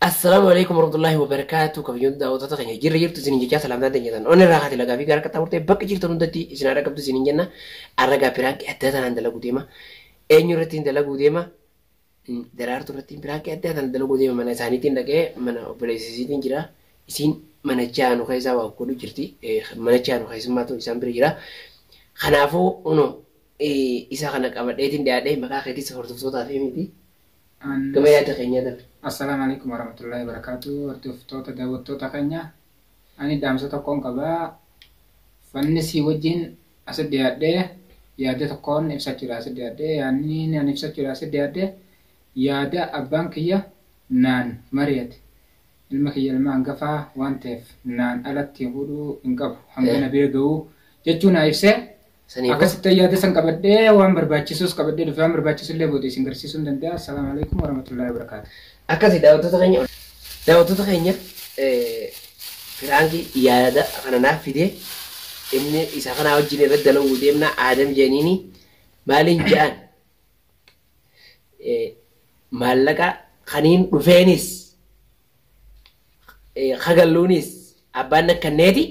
Assalaamu alaikum warahmatullahi wabarakatuh kabajamtoota daawwattoota keenya jirra jirtu isiniin jechaa salaamtaan teenya tan onnee irraa haati lagaa fi gara qaxxaa murtee bakka jirtan hundatti isin haa dhaqqabdu isiniin jenna arra gaa piraankii addaa tanaan dalaguu deema eenyu irratti hin dalaguu deema daraartu irratti piraankii addaa tanaan dalaguu deema mana isaaniitiin dhaqee mana obboleessisiitiin jira isiin mana jaanu keessaa waa godhu jirti mana jaanu keessummaatu isaan bira jira kanaafuu uno isa kana qabadheetiin dhiyaadhee maqaa keetis hordoftootaaf himiti An. Gama yaada keenyaa darbe. Assalam Alaikum Waramatullahi Wabarakatuh Hordoftoota Daawwattoota Keenya Ani Dhaamsa Tokkoon Qaba Wanni Sii Wajjiin Asi Dhiyaadhe Yaada Tokkoon Ibsachuudha Asi Dhiyaadhe Yaanni Ani Ibsachuudha Asi Dhiyaadhe Yaada Abbaan Kiyya Naan Mariyate Ilma Kiyya Ilma Hangafaa Waan Ta'eef Naan Alatti Hudhuu Hin Qabu Hanga Na Bira Ga'uu Jechuu Naa Ibse Sanii booda Akkasitti yaada san qabadhee waan barbaachisus qabadhee dhufe waan barbaachisu illee booda isin garsiisuun danda'a. Assalaamu alaikum warahmatullahi wabarakaatu. akkasi daawwattoota keenya daawwattoota keenya eh, firaankii yaada kana naaf fidee inni isa kanaa wajjin irratti dalaguu deemna aadam jeeniini maaliin ja'an eh, maallaqa kaniin dhufeenis kagalluunis abbaan nakkanneeti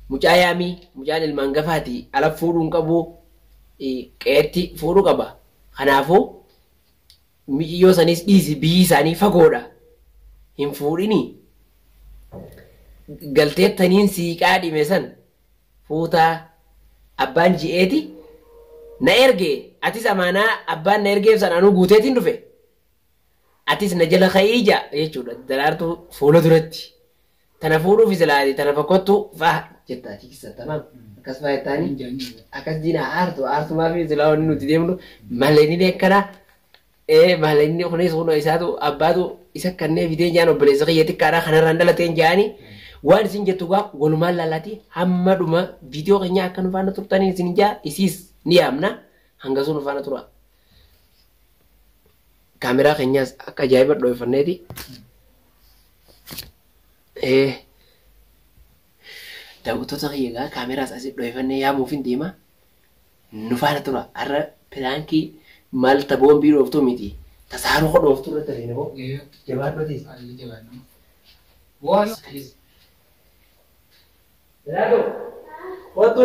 mucaa yaamii mucaan ilmaan gafaati ala fuudhuun qabu qeetti fuudhu qaba kanaafuu miciyyoo saniis dhiisi biyyi isaanii fagoodha hin fuudhini galteettaniin siiqaa dhime san fuutaa abbaan ji'eeti na erge atis amaanaa abbaan na ergeef san anuu guuteetiin dhufe Atis na jala ka'ii ja jechuudha daraartuu fuula duratti. Tana fuudhuuf silaa ati tana fakkottu fa'a jetta ati kissa tamaam akkas fa'a jettaani akkas diina aartu aartumaa fi silaa wanni nuti deemnu maleenini akkana ee maleenini kunis kun isaatu abbaatu isa kannee fidee jaan obboleessa kiyya xiqqaadha kanarraan dhalateen jaani waan isin jettu gaa walumaan laalaati hamma dhuma viidiyoo keenya akka nu faana turtaniin isin jaa isiis ni yaamna hanga sun nu faana tura. Kaameraa keenyaas akka ajaa'iba dhooyfanneeti. Ee daawwattoota kiyya egaa kaameraas asii dhooyfannee yaamuuf hin deema. Nu faana tura. Har'a piraankii maal ta boombii dhooftuu miti. Ta saaroo ka dhooftuu irratti argina moo. Jabaadhu atis. Haalli jabaadhu. Waan atis. Jalaadhu. Kottu.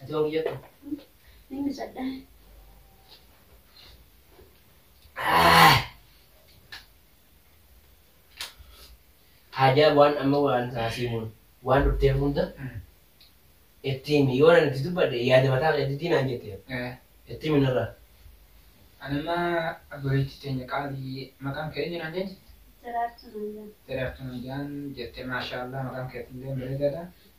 Ati waan kiyya ta'u. Inni sadhaa. Haajaa waan amma waan taasii mun waan dhuftee hunda itti himi yoo nan itti dubbadhe yaada mataa kee itti naan jette itti himi narraa. Anamma abboleetti teenya qaalii maqaan kee eenyu naan jette? Daraartuu naan jedhan. Daraartuu naan jedhan jette maashaallah maqaan keetillee bareedaadha.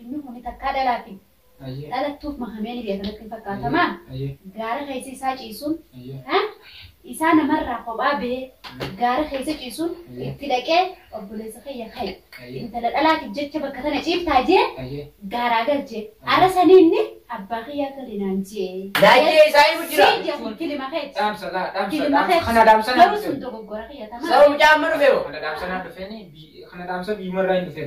Inni kuni takkaa dhalaati. Dhalattuuf mahamee ni beeka natti hin fakkaatamaa? Gaara keessa isaa ciisuun, isaa namarraa kophaa bahee gaara keessa ciisuun itti dhaqee obboleessa kiyya ka'e. Intala dhalaatiif jecha bakka tana ciiftaa jee gaaraa galche. Ara sanii inni abbaa kiyyaa gali naan jee. Laayee isaa himu jira. Sii jee kun kilima keeti. Dhaamsa laa dhaamsa Kilima dhaamsa keeti. kana dhaamsa naa Garuu sun dhufe. dogoggora kiyya tamaa. Sababa mucaa amma dhufe hoo. Kana dhaamsa naa dhufe ni kana dhaamsa biyyuma irraa hin dhufe.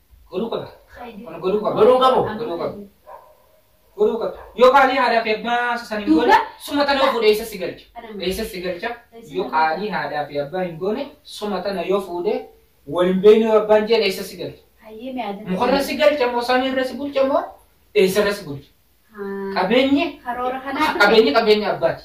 Godhuu qaba. Kun godhuu qaba. Godhuu qabu. Godhuu qaba. Godhuu qaba. Yoo qaalii haadhaaf abbaa san hin goone suma tana yoo fuudhe eessa si galcha? Eessa si galcha? Yoo qaalii haadhaaf abbaa hin goone suma tana yoo fuudhe wal hin beekne yoo abbaan jeen eessa si galcha? Mukarra si galcha moo samii irra si bulcha moo eessa irra si bulcha? Qabeenyi Karoora kanaa qabeenyi qabeenya abbaati.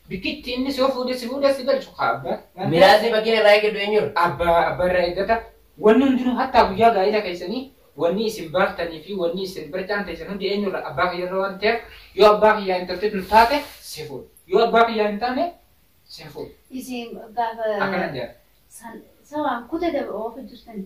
Bikkitti inni si fuudhee si fuudhee si galchu haa abbaa. Miraasni fakkiin irraa eeggadhu eenyuun? Abbaa abbaa irraa eeggata. Wanni hundinuu hattaa guyyaa gaa'ila keessanii wanni isin baaftanii fi wanni isin barcaan teessan hundi eenyurra abbaa kiyyarra waan ta'eef yoo abbaa kiyyaa intalti tun taate si fuudha. Yoo abbaa kiyyaa hin taane si hin fuudha. Isin gaafa Akkana jedha. san sawaan kuta daba oofa jirtan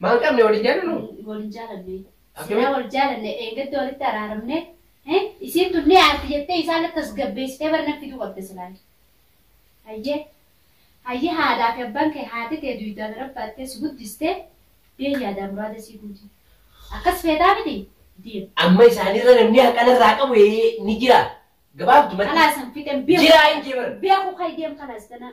Maan qabne wal hin jaalannu? Wal hin jaalanne. Akkamitti? Silaa wal jaalanne dheengadda walitti araaramne. eh, Isiin tun ni aarti jettee isaan tasgabbeessitee bara nan fiduu qabda silaan. Hayyee. Hayyee haadhaa fi abbaan kee haati tee duuydaa bira baattee si guddistee bee yaadaa muraada sii guuti. Akkas feetaa miti? Deem. Amma isaanirra namni haqa narraa qabu ee, ni jira. Gabaabdumatti. Kalaasan fixeen beeku. Jiraa hin jeeman. Beeku kee deem kalaas tanaa.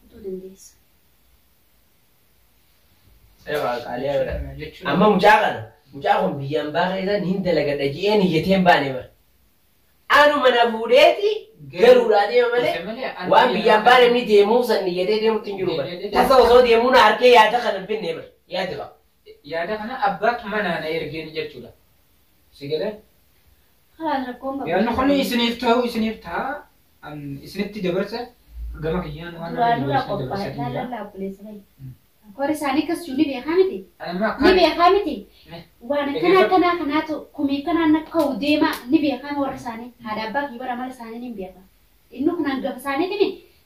kutuu dandeessa. Amma mucaa kana mucaa kun biyya ambaa keessan hin dalagadha je'een iyyateen baane bara. Anu mana fuudheeti galuudhaa deema malee waan biyya ambaa namni deemuuf san iyyatee deemutti hin jiru bara. Tasa osoo deemuu na arkee yaada kana hin binne bara. Yaada qaba. Yaada kana abbaa manaa na ergeen jechuudha. Si galee? Kalaas rakkoon qabu. Yaanni kun isiniif ta'u isiniif ta'a. An isinitti dabarsa gama kiyyaan waan Duraa ani dura isinitti qophaa'e dabarsa jira. laalallaa obboleessa kee. Koori isaanii akkas jiru ni beekaa miti. Amma Ni akka beekaa miti. Eh. Waan akkanaa Egaa- akkanaa kanaatu kumii kanaan na ka'u deemaa ni beekaa warri isaanii. Haadha abbaa fi bara mala isaanii ni beekaa. Inni kun hangafa isaaniitiin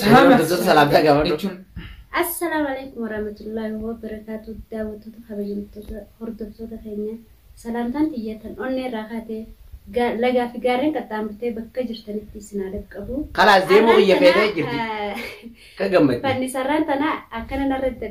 Salaam hordoftoota salaamtaa gaafadhu. jechuun Assalaamu alaikum warahmatullahi wabarakatuh daawwattoota kabajamtoota hordoftoota keenya salaamtaan xiyyatan onnee irraa kaatee gaa- lagaa fi gaarreen qaxxaamurtee bakka jirtanitti isin haa dhaqqabu. Kalaas deemuu biyya Har'aan feetee tana, jirti. eh, Kan gammadde. Fannisarraan tana akkana narra